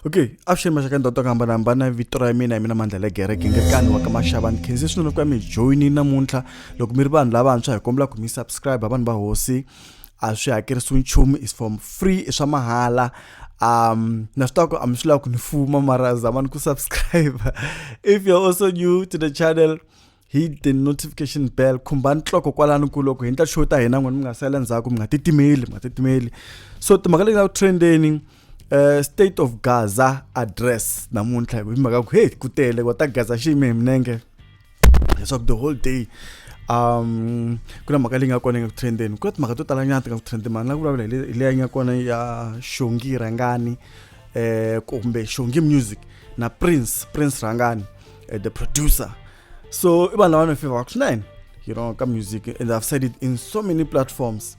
okay avuxeni maxaka ndhawu to ku hambanahambana vito ra mina hi mina mandla le gereke ngekani wa ka maxava ni khense swinene ku ya mi joyini namuntlha loko mi ri vanhu lavantshwa hi kombela ku mi subscribe vanhu va hosi a swi hakerisiwi nchumu is from free i swa mahala um na swi twaku a mi swi lava ku ni fuma mara zama ni ku subscribe if you're also new to the channel hit the notification bell khumbani nhloko kwalani ku loko hi ndla show ta hina n'wina mi nga sala ndzhaku mi nga titimeli mi nga titimeli so timhaka leti nga ku trendeni Uh, state of gaza address namuntlha hi mhaka ku hey ku tele kwata gaza xi yime hi minenge leswaku the whole day um ku na mhaka leyi nga kona yi nga ku trendeni ku na timhaka to tala nyana ti nga ku trendeni mara na ku vulavula hi leyi nga kona ya xongi rhangani um kumbe xongi music na prince prince rhangani eh, the producer so i vanhu lava ni fevaka swinene you know ka music and i've said it in so many platforms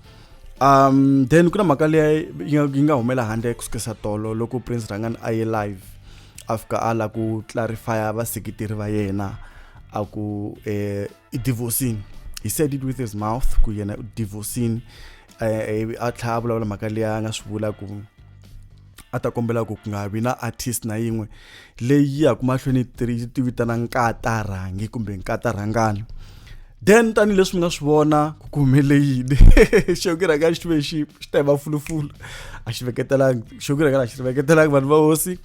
um then ku na mhaka leyi yi nga humela handle ku sukisa tolo loko prince rangani a ye live a fika a la ku clarifya vaseketeri va yena a ku eh, i divorcini he said it with his mouth ku yena u divorcini eh, eh, a tlhela a vulavula mhaka leyi a nga swi vula ku a ta kombela ku ku nga vi na artist na yin'we leyi yaku mahlweni yi ti vitana nkatarhangi kumbe nkatarhangana then tanihileswi mi nga swi vona ku ku humele yini xokirhanga xi ve xi xi ta hi mafulufulu a xi veketelangi xokirhanga a xi veketelangi vanhu va hosi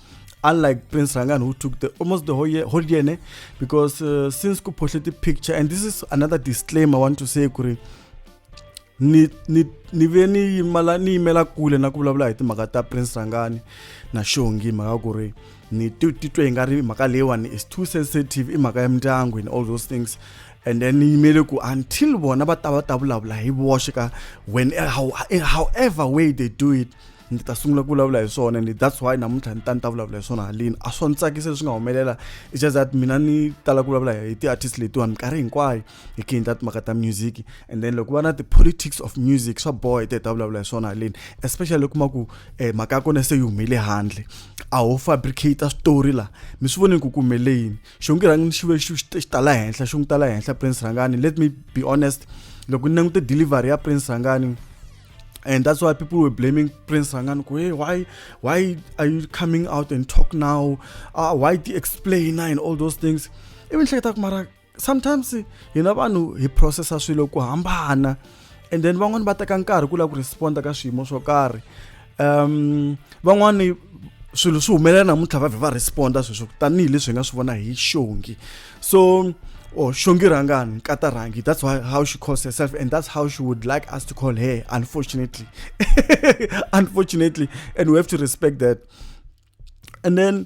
unlike prince rangan who took the almost the whole year, whole year ne? because uh, since ku phohle ti-picture and this is another disclaimer i want to say kuri ni ni ni ve ni yimala ni yimela kule na ku vulavula hi timhaka ta prince sangani na xongi mhaka ku ri ni titwe hi nga ri mhaka leyiwani is too sensitive i mhaka ya mindyangu and all those things and then ni yimele ku until vona va ta va ta vulavula hi voxe ka when eh, how, eh, however way they do it ni ta sungula ku vulavula hi swona and that's why namuntlha ni ta ni ta vulavula hi swona halini a swo ni tsakisa leswi nga humelela it's just that mina ni tala ku vulavula hi ti-artist letiwani minkarhi hinkwayo hi kini ta timhaka ta music and then loko va na ti-politics of music swa boha hi te ta vulavula hi swona haleni especially loko kuma ku um eh, mhaka ya kona se yi humele handle a ho fabricata switori laha mi swi voneni ku ku humele yini xo ngi rhangi xive xi tala henhla xo ngi tala henhla prince rhangani let me be honest loko ni langute delivery ya prince rhangani and that's why people were blaming prince rangani hey why why are you coming out and talk now uh, why do you explain and all those things even hleketa ku mara sometimes hina vanhu hi processa swilo ku hambana and then van'wani va teka nkarhi ku lava ku responda ka swiyimo swo karhi um van'wani swilo swi humelela namuntlha va vhe va responda sweswo tanihileswi hi nga swi vona hi xongi so or oh, shongi rangani nkata rangi that's why, how she calls herself and that's how she would like us to call her unfortunately unfortunately and we have to respect that and then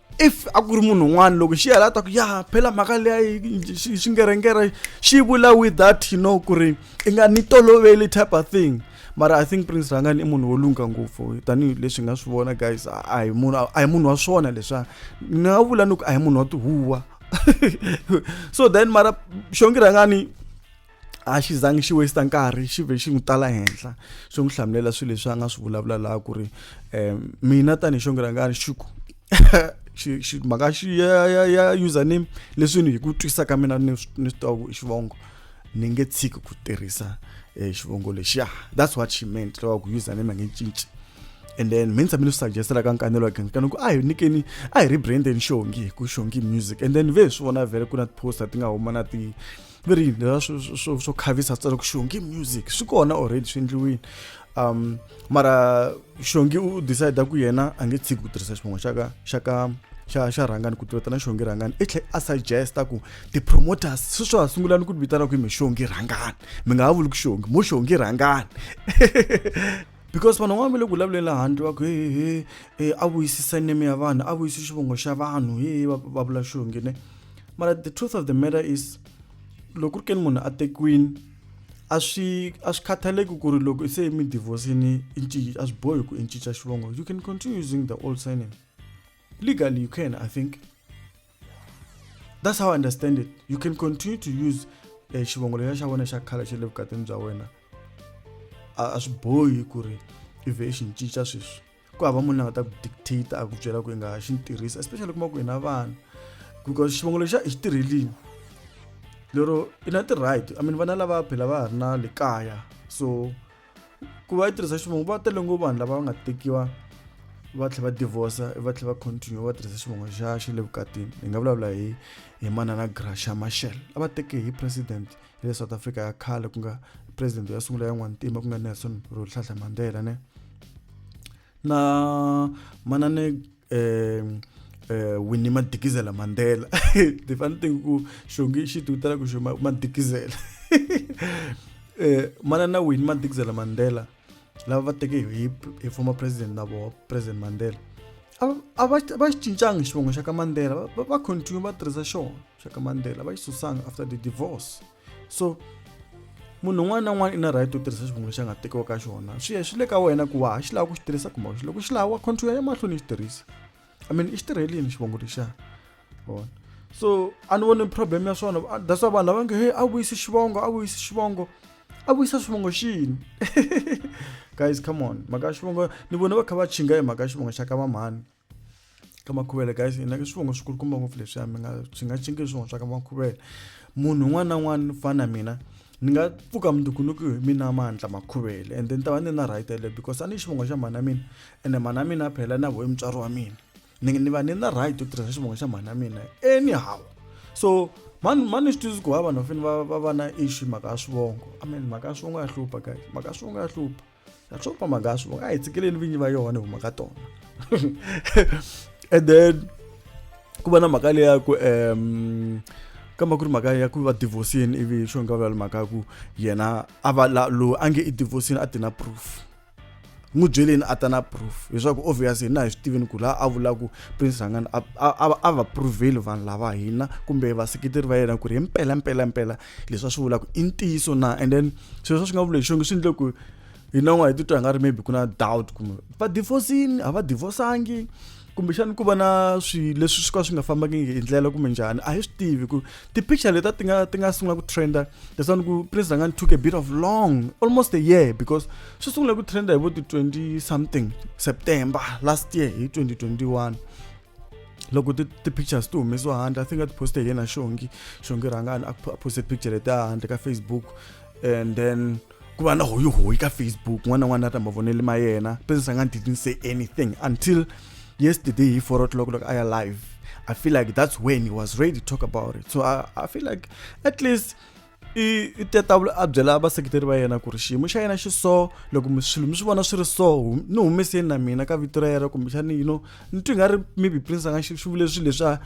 if a ku ri munhu un'wana loko xi hela ta ku ya phela mhaka leya xingerengera xi vula with that you know ku ri i nga ni toloveli type of thing mara i think prince rangani i munhu wo lungha ngopfu tanihileswi hi nga swi vona guys a hi munhu a hi munhu wa swona leswa ni nga vula ni ku a hi munhu wa tihuwa so then mara xongi rangani a xi zangi xi waste nkarhi xi ve xi n'wi tala henhla swi n'wi hlamulela swilo leswi a nga swi vulavula laha ku ri um mina tanihi xonge rangani xi ku xi mhaka xi ya ya ya username leswi ni hi ku twisisa ka mina ni ni swi tiva ku i xivongo ni nge tshiki ku tirhisa um xivongo lexiya that's what she meant loko ku username a nge cinci and then mi ntshame ni swi suggestela ka nkanelo again kana ku a hi nyikeni a hi ri brandeni xongi hi ku xongi music and then ve hi swi vona vhele ku na ti-poster ti nga huma na ti ve ri yini leswa swo swo swo khavisa tsala ku xongi music swi kona already swi endliwini um mara xongi u decide ku yena a nge tshiki ku tirhisa xiphongo xa ka xa ka xa xa rhangani ku tirheta na xongi rhangani i tlhe a suggesta ku ti-promoters sweswo ha sungula ni ku vitana ku hi mi xongi rhangani mi nga ha vuli ku xongi mo xongi rhangani because vanhu van'wana va le ku vulavuleni laha handle va ku he he he a vuyisisa neme ya vanhu a vuyisi xivongo xa vanhu he va vula xongi ne mara the truth of the matter is loko ri keni munhu a tekiwini a swi a swi khathaleki ku ri loko se mi divorcini i ncinca a swi bohi ku i ncinca xivongo you can continue using the old surname legally you can i think that's how i understand it you can continue to use eh, xivongo lexa xa wena xa khala xa le vukatini bya wena a swi bohi ku ri i vhe i xi ncinca sweswi ku hava munhu la nga ta ku dictate a ku byela ku i nga xi ni tirhisa especially kuma ku hi na vana because xivongo lexa i xi tirhelini lero i na ti-right i mean vana lava phela va ha ri na le kaya so ku va yi tirhisa xivongo va tele ngo vanhu lava va nga tekiwa va tlhe va divorce va tlhe va continue va tirhisa xivongo xa xi le vukatini hi nga vulavula hi hi manana grasha mashel a va teke hi president le south africa ya khale ku nga president ya sungula ya n'wantima ku nga nelson rolihlahla mandela ne na manane um eh, winnie madikizela mandela the funny thing ku xongi xi ti vitela ku xo madikizela eh, manana winnie madikizela mandela lava va teke hi hi former president na voho president mandela a va xi cincanga xivongo xa ka mandela va continue va tirhisa xona Chaka Mandela va yi susanga after the divorce so munhu un'wana na un'wana i na right to tirhisa xivongo lexi a nga tekiwa ka xona swi ya swi le ka wena ku wa ha xi lava ku xi tirhisa kumbe xi loko xi lava wa control ya mahlweni xi tirhisa i mean i xi tirhelini xivongo lexiya vona so a ni voni problem ya swona that's why vanhu lava nge he a vuyisi xivongo a vuyisi xivongo a vuyisa xivongo xini guys come on mhaka xivongo ni vona va kha va chinga hi mhaka xivongo xa ka vamhani ka makhuvele guys na ke swivongo swi kulukumba ngopfu leswiya mi nga swi nga cinki swivongo swa ka makhuvele munhu un'wana na un'wana fana mina ni nga pfuka mundzukunuku hi mina mandla makhuvele and then ta va ni na right yaleyo because a ni xivongo xa mhana mina ene mhana mina a phela na vohi mutswari wa mina ni ni va ni na right yo tirhisa xivongo xa mhana mina anyhow so mani mani swi tivi ku va vanhu va fanele va va va na issue mhaka ya swivongo i mean mhaka ya swivongo ya hlupha guys mhaka ya swivongo ya hlupha na swo famba nga swi va nga hi tsikeleli vinyi va yona hi huma ka tona and then ku va na mhaka leyi ya ku um kambe ku ri mhaka ya ku va divorcini ivi xo nga vula mhaka ya ku yena a va la loyi a nge i divorcini a ti na proof n'wi byeleni a ta na proof leswaku obvious hina hi swi tivini ku laha a vula ku prince rhangani a va proveli vanhu lava hina kumbe vaseketeri va yena ku ri hi mpela mpela mpela leswi a swi vulaka i ntiyiso na and then swilo leswi a swi nga vuleki xonge swi endle ku hi nan'wa hi titwa hi nga ri maybe ku na doubt kumbe va divorcini a va divorsangi kumbexani ku va na swi leswi swi ka swi nga fambaki hi ndlela kumbe njhani a hi swi tivi ku ti-picture leta ti nga ti nga sungula ku trenda leswaku ku prince rangani took a bit of long almost a year because swi sungule ku trenda hi vo ti-twenty something september last year hi 2021 loko ti-pictures ti humesiwa handle i think a ti poste hi yena xongi xongi rhangani a poste picture leti handle ka facebook and then ku va na hoyihoyi ka facebook n'wana na n'wana a ta mavoneli ma yena business a nga didn't say anything until yesterday hi four o'clock loko a ya live i feel like that's when he was ready to talk about it so i, I feel like at least i i tatavula a byela vaseketeri va yena ku ri xiyimo xa yena xi so loko mi swilo mi swi vona swi ri so ni humeseni na mina ka vito ra yena kumbexani you know ni twi nga ri maybe prince a nga xi vule swilo leswiya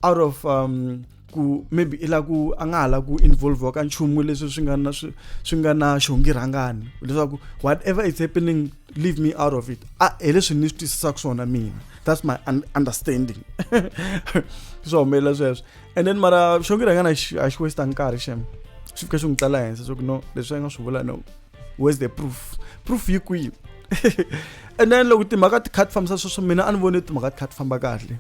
out of um ku maybe i la ku a nga ha la ku involve ka nchumu leswi swi nga na swi swi nga na xongi rhangani leswaku whatever is happening leave me out of it a hi leswi ni swi twisisaka swona mina that's my understanding swi humelela sweswo and then mara xo ngira ngana a xi westa nkarhi xem xi fika xi n'wi tsala henhla swa ku no leswi a nga swi vula no where's the proof proof yi kwihi and then loko timhaka ti kha ti fambisa sweswo mina a ni voni timhaka ti kha ti famba kahle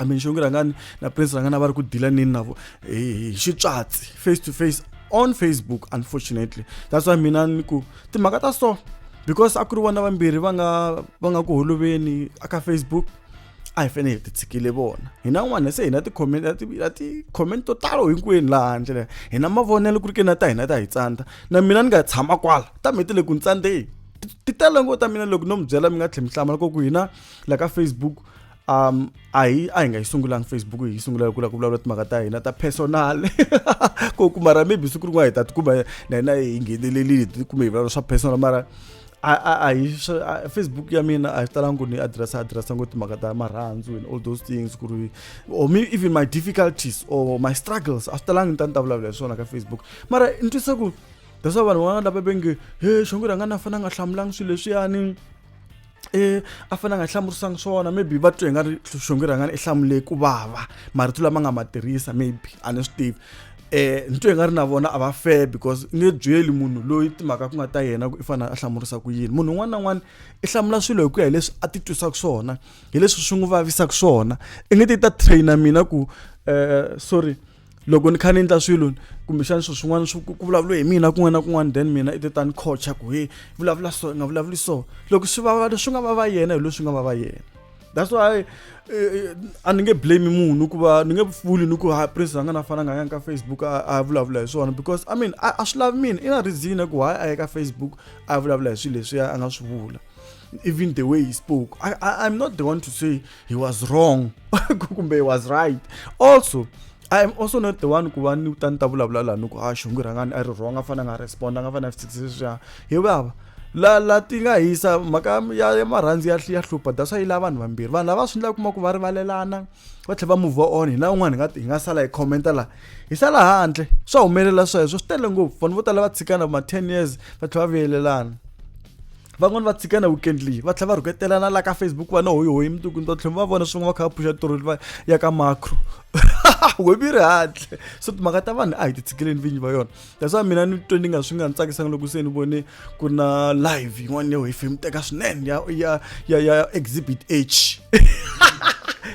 i mean xongi rhangani na prince rhangani a va ri ku dila nini na vo hi xitswatsi face to face on facebook unfortunately that's why mina ni ku timhaka ta so because a ku ri vona vambirhi va nga va nga ku holoveni aka facebook a hi fanele hi titshikile vona hina n'wana se hina ti-comment a ti a ti-comment to talo hinkwenu laha handle leyi hina mavonelo ku ri ke na ta hina ta hi tsandza na mina ni nga tshama kwala ta mi ti le ku ni tsandzeni ti tele ngo ta mina loko no mi byela mi nga tlhela mi hlamala ko ku hina la ka facebook um a hi a hi nga yi sungulangi facebook hi yi sungula ku la ku vulavula timhaka ta hina ta personal ko ku mara maybe siku rin'wana hi ta tikuma na hina hi nghenelelile kumbe hi vulavula swa personal mara a hi facebook ya mina a yi talanga ku ni addressa addressa ngo timhaka ta marhandzu and all those things ku ri or me even my difficulties or my struggles a swi talanga ni ta ni ta vulavula hi swona ka facebook mara ni twisa ku that's why vanhu van'wana lava venge he xongo rhanga na fana nga hlamulanga swilo leswiyani e a fana nga hlamurisanga swona maybe va twe hi nga ri xongo rhangani i hlamule ku vava marito lama nga ma tirhisa maybe a ni swi tivi eh nto yi nga ri na vona a va fair because i nge byeli munhu loyi timhaka ku nga ta yena ku i fanele a hlamurisa ku yini munhu un'wana na un'wana i hlamula swilo hi ku ya hi leswi a ti twisaka swona hi leswi swi n'wi vavisaka swona i nge ti ta traina mina ku eh sorry loko ni kha ni endla swilo kumbexana swilo swin'wana swi ku vulavula hi mina kun'wana na kun'wana then mina i titani coacha ku he vulavula so i nga vulavuli so loko swi vava leswi nga vava yena hi leswi nga vava yena that's why eh, eh, a ni nge blame munhu ku va ni nge pfuli ni ku ha prince a nga na fana nga yanga ka facebook a vulavula hi swona because i mean a swi lavi mina i na reason ku why a ya ka facebook a vulavula hi swilo leswi a nga swi vula even the way he spoke I, I, i'm not the one to say he was wrong kumbe he was right also I am also not the one ku va ni ta ni ta vulavula laha ni ku a xongi rhangani a ri wrong a fanele a nga respond a nga fanele a fikise sweswiya hi vava la la ti nga hisa mhaka ya ya marhandzu ya ya hlupha that's why yi lava vanhu vambirhi vanhu lava swi endlaka kuma ku va rivalelana va tlhela va move on hina un'wana hi nga hi nga sala hi commenta laha hi sala handle swa humelela sweswo swi tele ngopfu vanhu vo tala va tshikana ma ten years va tlhela va vuyelelana van'wani va tshika na weekend leyi va tlhela va rhuketelana la ka facebook va na hoyihoyi mundzuku ni ta tlhela va vona swin'we va kha va phuxa toroli va ya ka macro webi ri hatle so timhaka ta vanhu a hi ti tshikeleni vinyi va yona that's why mina ni twe ni nga swi nga ni tsakisanga loko se ni vone ku na live yin'wana leyo hi film teka swinene ya ya ya ya exhibit h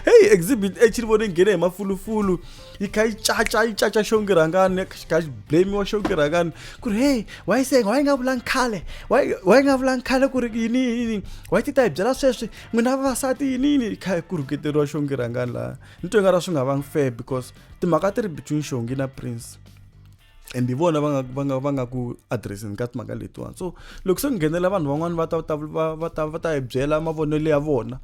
hey exhibit h ni vone nghene hi mafulufulu yi kha yi caca yi caca xongirhangani yi kha yi blamiwa xongirhangani ku ri heyi wa yi senga wa yi nga vulangi khale wa yi nga vulangi khale ku ri yini yini wa yi ti ta hi byela sweswi n'wina vavasati yini yini yi kha yi ku rhuketeriwa xongirhangani laha ni twe nga ra swi nga vangi fair because timhaka ti ri between xongi na prince and hi vona va nga va nga va nga ku addresseni ka timhaka letiwani so loko se ku nghenela vanhu van'wani va ta va ta va ta hi byela mavonelo ya vona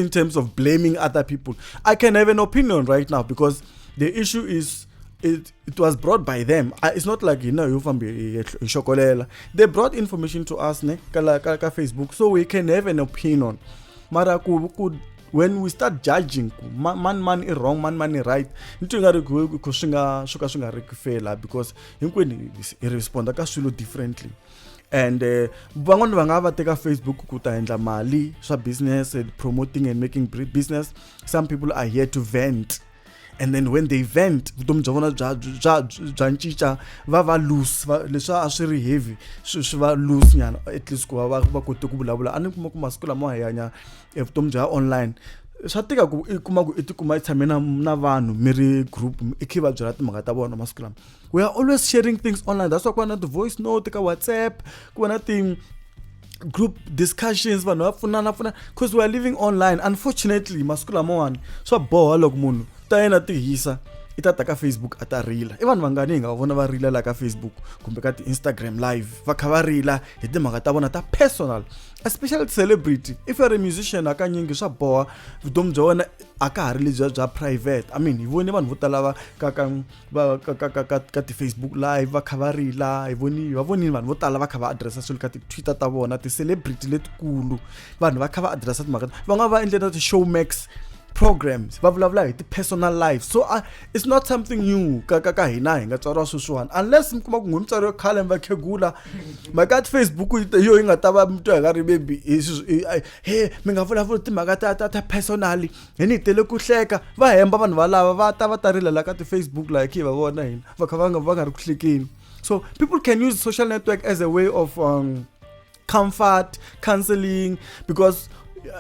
in terms of blaming other people i can have an opinion right now because the issue is it, it was brought by them uh, it's not like hina yo fambi hi xokolela they brought information to us ne ka, ka, ka facebook so we can have an opinion mara ku, ku when we start judging ku ma- mani mani i wrong mani mani i right ni twi nga ri ku ku swi nga swo ka swi nga ri ku fela because hinkwenu hi- hi responda ka swilo differently and eh, van'wani va nga va teka facebook ku ta endla mali swa business and promoting and making bri- business some people are here to vent and then when they vent vutomi bya vona bya bya bya ncinca va va loose va leswi a swi ri heavy swi swi va loose nyana at least ku va va va kote ku vulavula a ni kuma ku masiku lama hi hanya evutomi bya online swa tika ku i kuma ku i tikuma i tshame na na vanhu mi ri group i khe va byela timhaka ta vona masiku lama we are always sharing things online that's why ku va na ti-voice note ka whatsapp ku va na ti group discussions vanhu va pfunana pfunana because we are living online unfortunately masiku lamawani swa boha loko munhu ta yena ti hisa i ta ta ka facebook a ta rila i vanhu vangani hi nga va vona va rila laha ka facebook kumbe ka ti-instagram live va kha va rila hi timhaka ta vona ta personal especially ti-celebrity if youare a musician hakanyingi swa boha vutomi bya wena a ka ha ri lebyiya bya private i mean hi vone vanhu vo tala va ka ka va ka ka ka ka ka ti-facebook live va kha va rila hi voni va vonile vanhu vo tala va kha va adiresa swilo ka ti-twitter ta vona ti-celebrity letikulu vanhu va kha va adiresa timhaka va nga va endle na ti-show max programs va vulavula hi ti-personal life so uh, it's not something new ka ka ka hina hi nga tswariwa sweswiwani unless mi kuma ku n'wi mutswari yo khale mi va khegula mhaka ya ti-facebook yo yi nga ta va mitwa hi nga ri bebi he mi nga vulavuli timhaka ta ta ta personally hi ni tele ku hleka va hemba vanhu valava va ta va ta rila la ka ti-facebook laha khe hi va vona hina va kha va nga va nga ri ku hlekeni so people can use social network as a way of um, comfort counseling because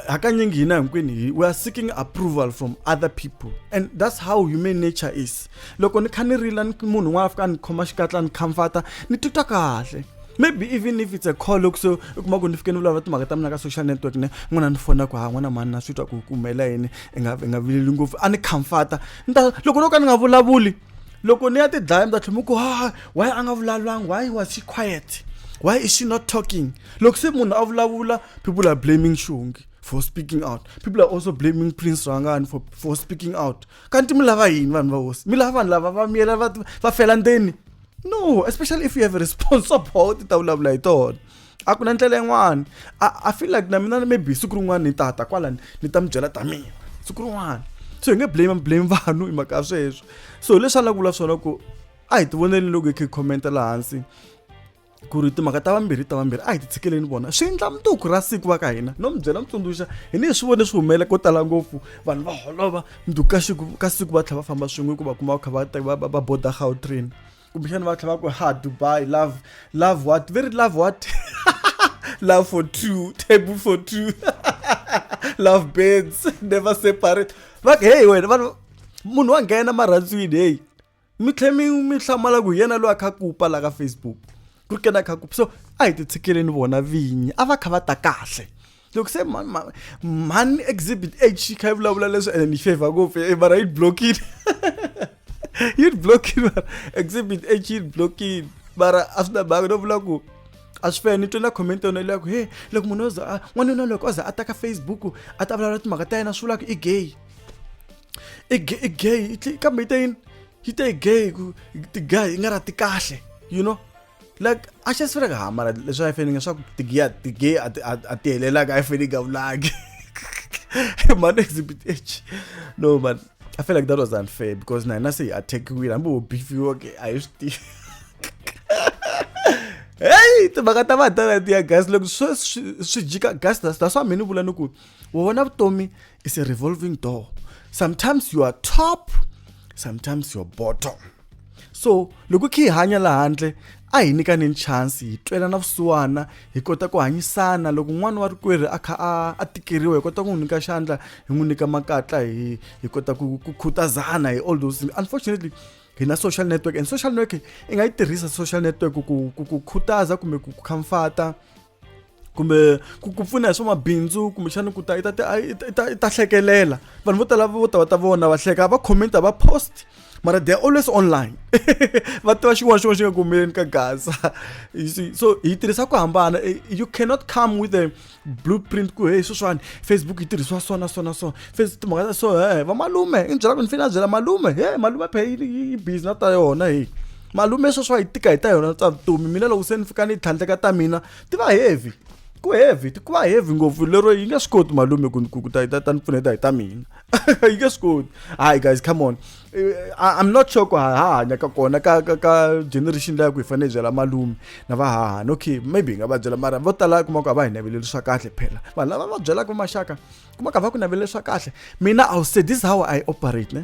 hakanyingi hina hinkwini we are seeking approval from other people and that's how human nature is loko ni kha ni rila ni munhu un'wana a fika a ni khoma xikatla ni comforta ni titwa kahle maybe even if it's a call loko so i kuma ku ni fike ni vulavula timhaka ta mina ka social network ne n'wana ni fona ku ha n'wana mani na swi twa ku ku humelela yini i nga i nga vileli ngopfu a ni comforta ni ta loko no ka ni nga vulavuli loko ni ya ti dlaya mi ta tlhela mi ku ha why a nga vulavulanga why was she quiet why is she not talking loko se munhu a vulavula people are blaming shungi for speaking out people are also blaming prince rangani for, for speaking out kanti mi lava yini vanhu va hosi mi lava vanhu lava va miyela va fela ndzeni no especially if you have a responsible ti ta vulavula hi tona a ku na ndlela yin'wana i feel like na mina maybe siku rin'wana ni tata kwala ni ta mi byela ta mina siku rin'wana so hi nge blame blame vanhu hi mhaka sweswo so hi leswi a la ku vula swona ku a hi ti voneleni loko hi khe commenta laha hansi ku ri timhaka ta vambirhi ta vambirhi a hi ti tshikeleni vona swi endla mutuku ra siku va ka hina no mi byela mi tsundzuxa hi ni hi swi vone swi humelela ko tala ngopfu vanhu va holova ndu ka siku ka siku va tlhela va famba swin'we hikuva kuma va kha va ta va va va boda gautrain kumbexana va tlhela va ku ha dubai love love what very love what love for two table for two love beds never separate va ku heyi wena vanhu munhu wa nghena marhandzwini heyi mi tlhe mi mi hlamala ku yena loyi a kha ku pala ka facebook ku ri kena kha ku so a hi ti tshikeleni vona vinyi a va kha va ta kahle loko se mhani exhibit h yi kha yi vulavula leswi ene ni favor ngopfu e mara yi blockile yi blockile mara exhibit h yi blockile mara a swi na mhaka no vula ku a swi fani ni twe na comment yona leya ku he loko munhu o za n'wanuna loko o za a ta ka facebook a ta vulavula timhaka ta yena swi vula ku i gay i gay i gay i tli- kambe yi te yini yi te i gay ku ti-guy i nga ra ti kahle you know like a xi swi reka hamara leswi a yi fanele leswaku tigiya ti-gay a ti- a a ti helelaka a yi fanele yi nga vulangi man exhibit h no man i feel like that was unfair because na hina se hi attackiwile hambi wo beefiwa ke a hi swi tivi heyi timhaka ta vanhu ta letiya gas loko swi swi- swi jika gas that's that's why mina ni vula ni ku u vona vutomi It's a revolving door. Sometimes you are top, sometimes you are bottom. So, loko khi hanya la handle, a hi nyikani chance hi twela na vusiwana hi kota ku hanyisana loko n'wana wa rikwerhu a kha a a tikeriwa hi kota ku n'wi nyika xandla hi n'wi nyika makatla hi hi kota ku ku khutazana hi all those unfortunately hi na social network and social network i nga yi tirhisa social network ku ku ku khutaza kumbe ku khamfata kumbe ku ku pfuna hi swa mabindzu kumbexana ku ta i ta i ta i ta hlekelela vanhu vo tala vo ta va ta vona va hleka va comment va post mara they are always online va tiva xin'wana xin'wana xi nga kumeleni ka gaza you see so hi tirhisa ku hambana eh, you cannot come with a blueprint ku hey sweswiwani facebook yi tirhisiwa so na so na so face timhaka ta so he eh, va malume i ni byela ku ni fanele a byela malume he malume phe yi busy na ta yona hi malume sweswi a yi tika hi ta yona ta vutomi mina loko se ni fika ni tlhandleka ta mina ti va heavy ku heavy ku va heavy ngopfu lero yi nge swi koti malume ku ku ta ta ni pfuneta hi ta mina yi nge swi koti hayi guys come on eh, i'm not sure ku ha hanya ka kona ka ka ka generation leyi ku hi fanele byela malume na va hahani okay maybe hi nga va byela mara vo tala kuma ku a va hi naveleli swa kahle phela vanhu lava va byelaka maxaka kuma ku a va ku naveleli swa kahle mina i will say this how i operate ne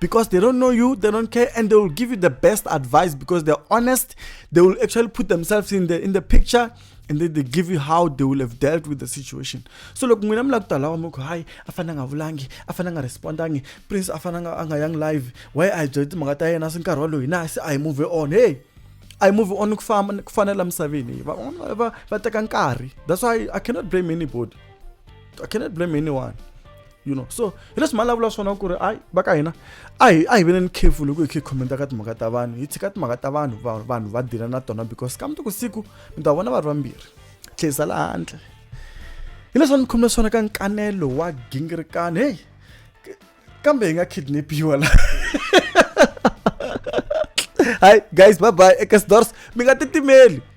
because they don't know you, they don't care, and they will give you the best advice because they're honest. They will actually put themselves in the in the picture and then they give you how they will have dealt with the situation so loko n'wina mi lava ku ta lawa mi ku hayi a fane a nga vulangi a fane a nga respondangi prince a fane a nga yangi live why a hi byele timhaka ta yena se nkarhi waloyi na se a hi move on hey I move on ku famba ku fanela misaveni van'wana va va teka nkarhi that's why I cannot blame anybody I cannot blame anyone you know so hi leswi mali lavula swona ku ri ayi va ka hina a hi a hi veneni careful loko hi khe hi khomenta ka timhaka ta vanhu hi tshika timhaka ta vanhu vanhu va dila na tona because ka mundzuku siku mi ta vona va ri vambirhi tlherisa laha handle hi leswi va ni khomile swona ka nkanelo wa gingirikani heyi kambe hi nga kidnapiwa la hayi guys bye bye eka sidors mi nga titimeli